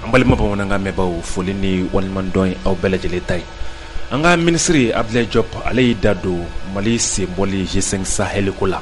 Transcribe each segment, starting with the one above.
an balima bamanankan mɛnbaaw foli ni waleɲumandɔn ye aw bɛɛ lajɛlen ta ye an ka minisiri abdulayi jɔp ale y'i da don mali senbɔli g5 sahɛli ko la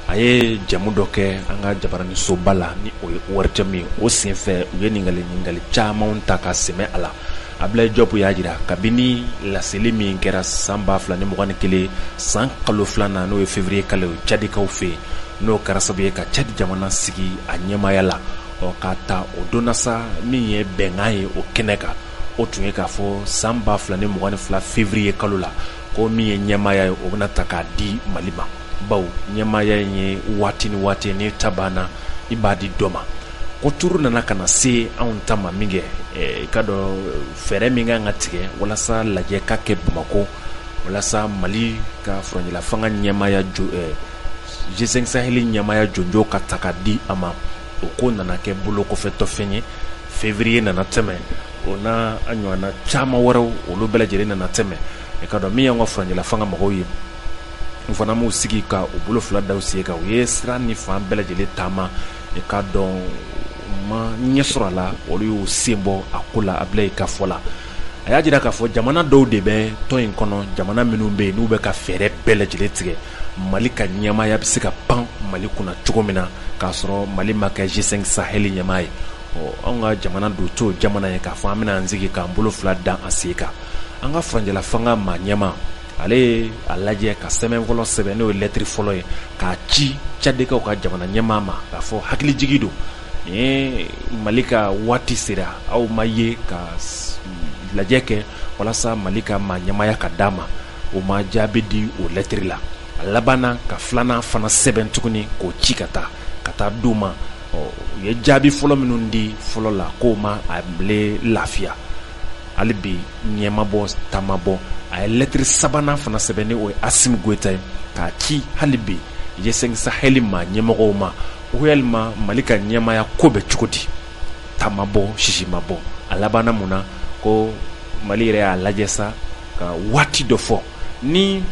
a ye jɛmu dɔ kɛ an ka jabaranisoba la ni o ye ORTM ye o senfɛ u ye ɲininkali ɲininkali camanw ta ka sɛmɛ a la abdulayi jɔp y'a jira kabini laseli min kɛra san ba fila ni mugan ni kelen san kalo filan na n'o ye fevriye kalo cadikaw fɛ yen n'o kɛra sababu ye ka cadi jamana sigi a ɲɛmaaya la ɔ k'a ta o don na sa min ye bɛnkan ye o kɛnɛ kan o tun ye k'a fɔ san ba fila ni mugan ni fila fevriye kalo la ko min ye ɲɛmaaya ye o bɛna ta k'a di mali ma bawo ɲɛmaaya in ye waati ni waati n'i ta banna i b'a di dɔ ma ko turu nana ka na se anw ta ma minkɛ i ka dɔn fɛɛrɛ min ka kan ka tigɛ walasa lajɛ ka kɛ bamakɔ walasa mali ka furancɛlafanga ɲɛmaaya jo G5 Sahel ɲɛmaya jɔnjɔn ka ta ka di a ma o ko nana kɛ bolokɔfɛfɛn ye février nana tɛmɛ o n'a ɲɔgɔnna caman wɛrɛw olu bɛɛ lajɛlen nana tɛmɛ i ka dɔn min y'an ka furancɛlafanga mɔgɔw ye u fana m'u sigi ka u bolo fila da u sen kan u ye sira ni fan bɛɛ lajɛlen taama i ka dɔn u ma ɲɛ sɔrɔ a la olu y'u sen bɔ a ko la Abilaye ka fɔ la a y'a jira k'a fɔ jamana dɔw de bɛ tɔn in kɔnɔ jamana minnu bɛ yen n'u bɛ ka fɛɛrɛ bɛɛ lajɛlen tigɛ mali ka ɲɛmaya bɛ se ka pan mali kunna cogo min na k'a sɔrɔ mali ma kɛ g5 sahɛli ɲɛmaa ye ɔ an ka jamana dun t'o jamana ye k'a fɔ an bɛna an sigi k'an bolo fila da an sen kan an ka furancɛlafanga maa ɲɛmaa ale ye a lajɛ ka sɛbɛn fɔlɔ sɛbɛn n'o ye lɛtiri fɔlɔ ye k'a ci cadikaw ka jamana ɲɛmaa ma k'a fɔ hakilijigin don nin mali ka waati sera aw ma ye ka lajɛ kɛ walasa mali ka maa ɲɛmaya ka di a ma o ma jaabi di o lɛtiri la a labanna ka filanan fana sɛbɛn tuguni k'o ci ka taa ka taa di u ma u ye jaabi fɔlɔ minnu di fɔlɔ la k'o ma a bile lafiya hali bi ɲɛ ma bɔ ta ma bɔ a ye lɛtiri sabanan fana sɛbɛn ni o ye asimi goyita ye k'a ci hali bi g5 sahɛli ma ɲɛmɔgɔw ma ko yalima mali ka ɲɛmaya ko bɛ cogo di ta ma bɔ sisi ma bɔ a labanna mun na ko mali yɛrɛ y'a lajɛ sa ka waati dɔ fɔ ni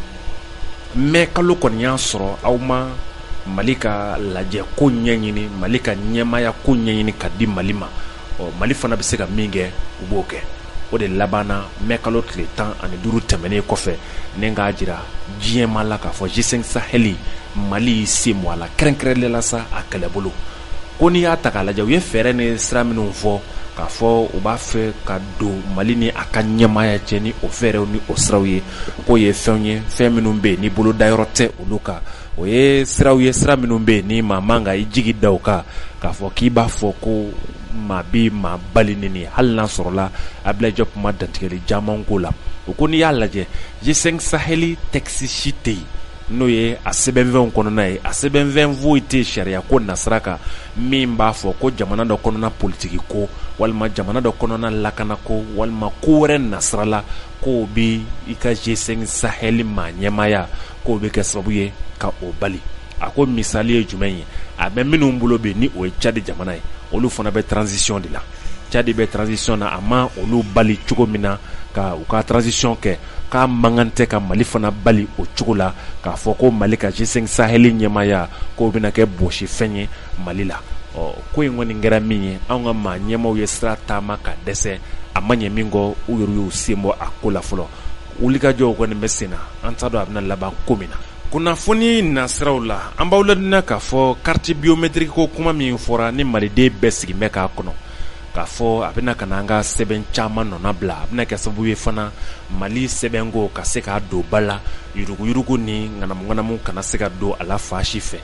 mɛ kalo kɔni y'a sɔrɔ aw ma mali ka lajɛ ko ɲɛɲini mali ka ɲɛmaya ko ɲɛɲini ka di mali ma ɔ mali fana bɛ se ka min kɛ u b'o kɛ o de labanna mɛ kalo tile tan ani duuru tɛmɛnen kɔfɛ nin k'a jira diɲɛmaa la k'a fɔ g5 sahɛli mali sen bɔ a la kɛrɛnkɛrɛnnenya la sa a kɛlɛbolo ko n'i y'a ta k'a lajɛ u ye fɛɛrɛ ni sira minnu fɔ k'a fɔ u b'a fɛ ka don mali ni a ka ɲɛmaaya cɛ ni o fɛɛrɛw ni o siraw ye k'o ye fɛnw ye fɛn minnu bɛ yen ni bolodayɔrɔ tɛ olu kan o ye siraw ye sira minnu bɛ yen ni maa man ka i jigi da o kan k'a fɔ k'i b'a fɔ ko maa bɛ maa bali ni hali n'a sɔrɔla ablayi kuma dantigɛli caman ko la o ko n'i y'a lajɛ G5 sahɛli tɛkisi si tɛ yen n'o ye a sɛbɛnfɛnw kɔnɔna ye a sɛbɛnfɛn foyi tɛ sariya ko nasira kan min b'a fɔ ko jamana dɔ kɔnɔna politiki ko walima jamana dɔ kɔnɔna lakana ko walima ko wɛrɛ nasirala ko bɛ i ka G5 sahɛli maa ɲɛmaaya k'o bɛ kɛ sababu ye ka o bali a ko misali ye jumɛn ye a bɛ minnu bolo bi ni o ye cadi jamana ye olu fana bɛ transisiyɔn de la cadi bɛ transisiyɔn na a ma olu bali cogo min na ka u ka transisiyɔn kɛ k'a man kan tɛ ka mali fana bali o cogo la k'a fɔ ko mali ka G5 sahɛli ɲɛmaaya k'o bɛna kɛ bɔsifɛn ye mali la ɔ ko in kɔni kɛra min ye an ka maa ɲɛmaaw ye sira taama ka dɛsɛ a ma ɲɛ minkɛ u yɛrɛ y'u sen bɔ a ko la fɔlɔ wulikajɔw kɔni bɛ sen na an t'a dɔn a bɛna laban ko min na kunnafoni nasiraw la an b'aw ladɔnniya k'a fɔ kariti biyometiriki ko kuma min fɔra ni maliden bɛɛ sigilen bɛ k'a kɔnɔ k'a fɔ a bɛna ka an ka sɛbɛn caman nɔnabila a bɛna kɛ sababu ye fana mali sɛbɛnko ka se ka don ba la yuruguyurugu ni ŋanamuŋanamu kana se ka don a la fan si fɛ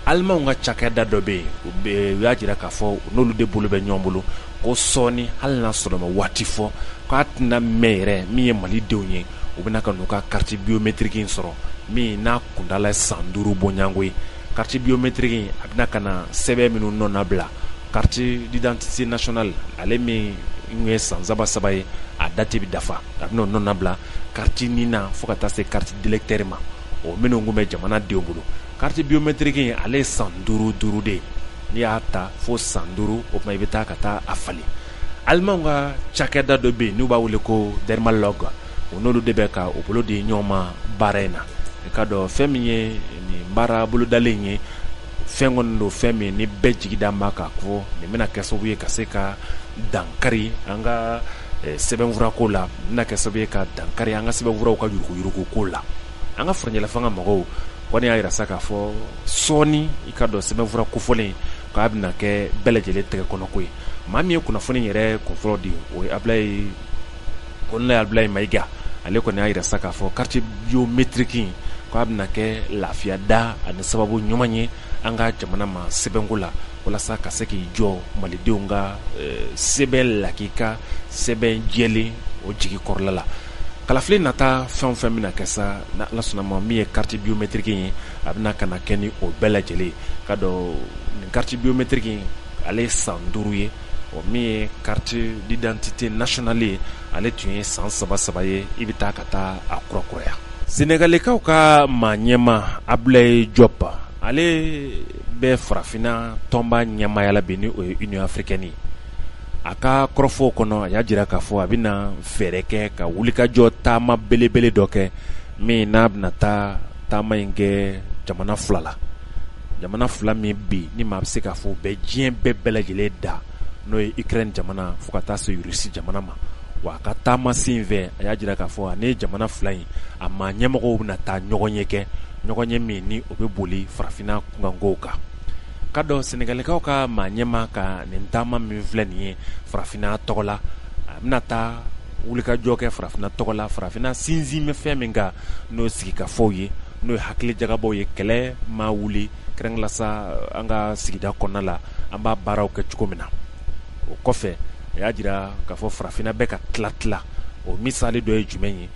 alimanw ka cakɛda dɔ bɛ yen u bɛ u y'a jira k'a fɔ n'olu de bolo bɛ ɲɔgɔn bolo ko sɔɔni hali n'a sɔrɔ u ma waati fɔ k'a tɛna mɛn yɛrɛ min ye mali denw ye u bɛna ka n'u ka kariti biyometiriki in sɔrɔ min n'a kuntaala san duuru bɔɲɔgɔnko ye kariti biyometiriki a bɛna ka na sɛbɛn minnu nɔnabila Kariti didantite nasiyonali ale min tun ye san saba saba ye a dati bɛ dafa a b'o nɔnabila kariti nina fo ka taa se kariti delɛkitɛri ma o minnu tun bɛ jamana denw bolo kariti biyometiriki ale ye san duuru duuru de ye n'i y'a ta fo san duuru o tuma i bɛ taa ka taa a falen alimanw ka cakɛda dɔ bɛ yen n'u b'a wele ko idemiya la kan u n'olu de bɛ ka u bolo di ɲɔgɔn ma baara in na i k'a dɔn fɛn min ye nin baara bolodalen ye fɛn kɔni don fɛn min ni bɛɛ jigi dalen b'a kan ko nin bɛna kɛ sababu ye ka se ka dankari an ka eh, sɛbɛnfura ko la bɛna kɛ sababu ye ka dankari an ka sɛbɛnfuraw ka yuruguyurugu ko la an ka furancɛlafanga mɔgɔw kɔni y'a yira sa k'a fɔ sɔɔni i k'a dɔn sɛbɛnfura kofɔlen k'a bɛna kɛ bɛɛ lajɛlen tɛgɛ kɔnɔko ye maa min ye kunnafoni yɛrɛ kunfɔlɔ di o ye ablayi kolonɛli abdulayi mayiga ale kɔni y'a jira sa k'a fɔ kariti biyomɛtiriki k' a bɛna kɛ lafiya da ani sababu ɲuman ye an ka jamana ma sɛbɛnko la walasa ka se k'i jɔ malidenw ka eh, sɛbɛn lakika sɛbɛn jɛlen o jigi kɔrɔla la kalafili nata fɛn fɛn bɛna kɛ sa ni ala sɔnn'a ma min ye kariti biyomɛtiriki ye a bɛna ka na kɛ ni o bɛɛ lajɛlen ye k'a dɔn nin kariti biyomɛtiriki ale ye san duuru ye ɔ min ye carte d'identité nationale ye ale tun ye san saba saba ye i bɛ taa ka taa a kurakuraya senegalikaw ka maa ɲɛma abulaye jɔp ale bɛ farafinna tɔnba ɲɛmaaya la bi ni o ye union africaine ye a ka kɔrɔfɔw kɔnɔ a y'a jira k'a fɔ a bɛna fɛɛrɛ kɛ ka wulikajɔ taama belebele dɔ kɛ min n'a bɛna taa taama in kɛ jamana fila la jamana fila min bɛ yen ni maa bɛ se k'a fɔ u bɛ diɲɛ bɛɛ bɛɛ lajɛlen da n'o ye ikrɛni jamana fo ka taa se rusi jamana ma wa a ka taama sen fɛ a y'a jira k'a fɔ a ni jamana fila in a maa ɲɛmɔgɔw bɛna taa ɲɔgɔnye kɛ ɲɔgɔnye min ni o bɛ boli farafinna kunkanko kan k'a dɔn senegalikaw ka maa ɲɛma ka nin taama min filɛ nin ye farafinna tɔgɔ la a bɛna taa wulikajɔ kɛ farafinna tɔgɔ la farafinna sinsin bɛ fɛn min kan n'o sigikafɔw ye n'o ye hakilijagabɔw ye kɛlɛ maa wuli kɛrɛnkɛrɛnnenya la sa an ka sigida kɔnɔna la an b'a baaraw kɛ cogo min na o kɔfɛ a y'a jira k'a fɔ farafinna bɛ ka tila tila o misali dɔ ye jumɛn ye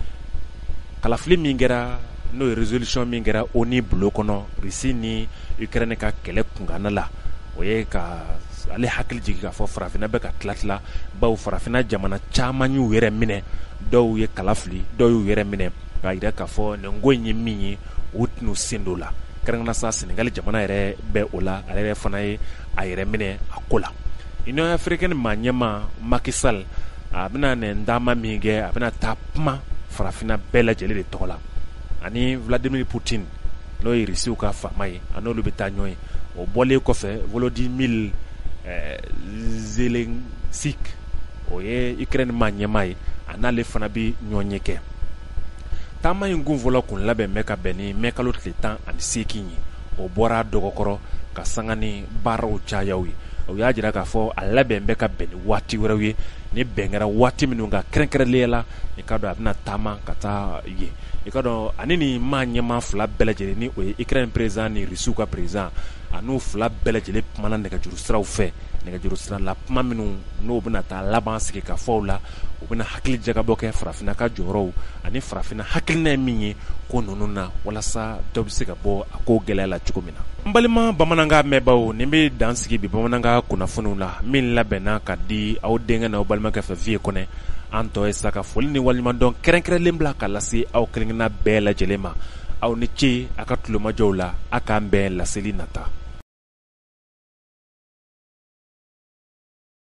kalafili min kɛra n'o ye rezolisɔn min kɛra ONU bulon kɔnɔ risi ni ikrɛni ka kɛlɛ kunkanna la o ye ale hakili jigin k'a fɔ farafinna bɛ ka tila tila bawo farafinna jamana caman y'u yɛrɛ minɛ dɔw ye kala fili dɔw y'u yɛrɛ minɛ k'a jira k'a fɔ nin ko in ye min ye u tɛna sen don a la kɛrɛnkɛrɛnnenya la sa Senegali jamana yɛrɛ bɛ o la ale yɛrɛ fana ye a yɛrɛ minɛ a ko la Union africaine maa ɲɛma Macky Sall a bɛna nin taama min kɛ a bɛna taa kuma farafinna bɛɛ lajɛlen de tɔgɔ la ani Vladimir Poutine n'o ye Russiw ka faama ye a n'olu bɛ taa ɲɔgɔn ye o bɔlen kɔfɛ Volodymyr Zelensky o ye ikrɛni maa ɲɛmaa ye a n'ale fana bɛ ɲɔgɔnye kɛ taama in kunfɔlɔ kun labɛn bɛ ka bɛn ni mɛ kalo tile tan ani seegin ye o bɔra dɔgɔkɔrɔ ka sanga ni baaraw cayaw ye o y'a jira k'a fɔ a labɛn bɛ ka bɛn ni waati wɛrɛw ye ni bɛn kɛra waati minnu kan kɛrɛnkɛrɛnliya la i k'a dɔn a bɛna taama ka taa ye i k'a dɔn a ni nin maa ɲɛmaa fila bɛɛ lajɛlen ni o ye ikrɛni perezidan ni rusiw ka perezidan ani u fila bɛɛ lajɛlen kumana nɛgɛjuru siraw fɛ nɛgɛjuru sira la kuma minnu n'o bɛna taa laban sigikafɔw la u bɛna hakili jagabɔ kɛ farafinna ka jɔyɔrɔw ani farafinna hakilina ye min ye ko ninnu na walasa dɔ bɛ se ka bɔ a ko gɛlɛya la cogo min na an balima bamanankan mɛnbaaw nin bɛ dan sigi bi bamanankan kunnafoniw la min labɛnna ka di aw denkɛ n'aw balimakɛ fɛ fiɲɛ kɔnɔ an tɔ ye sa ka foli ni waleɲumandɔn kɛrɛnkɛrɛnlen bila ka lase aw kelenkelenna bɛɛ lajɛlen ma aw ni ce a ka tulomajɔw la a k'an bɛn laseli nata